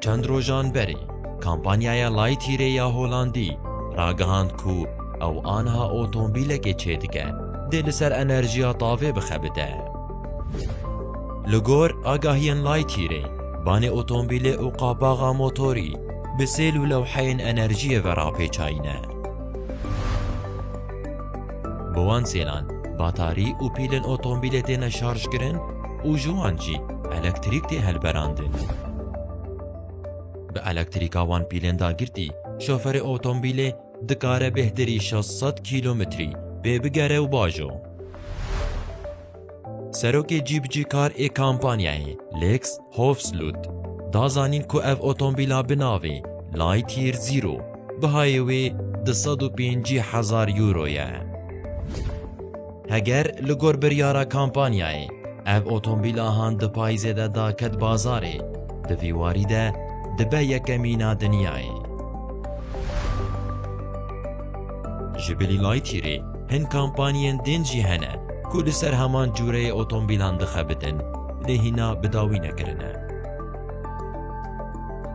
Çend rojan berê kampanyaya Lightyearê ya Holandî ragihand ku ew aniha otombîlekê çêdike dê li ser enerjiya tavê bixebite. Li gor agahiyên Lightyearê, banê otombîlê û qapaxa motorî bi sêl û lewheyên enerjiyê ve rapêçayîne. Bi wan sêlan batarî û pîlên otombîlê têne şarjkirin û ji wan jî elektrîk tê hilberandin. Bi elektrîka wan pîlên dagirtî şoferê otombîlê dikare bêhtirî şeş sed kîlometrî pê bigere û bajo. Serokê cîbicîkar ê kampanyayê Lex Hofsluth da zanîn ku ev otomobîla bi navê Lightyear Zero bihayê wê du sed û pêncî hezar euro ye. Heger li gor biryara kampanyayê ev otomobîla han di payîzê de da ket bazarê, di vî warî de dibe yekemîn a dinyayê. Ji bilî Lightyearê Hin kampanyên din jî hene ku li ser heman cûreyê otomobîlan dixebitin lê hîna bi dawî nekirine.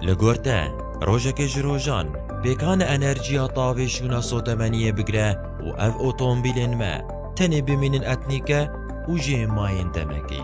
Li gor te, rojekê ji rojan, pêkane enerjiya tavê şûna sotemeniyê bigire û ev otomobîlên me tenê bimînin etnîke û jê mayên demekê.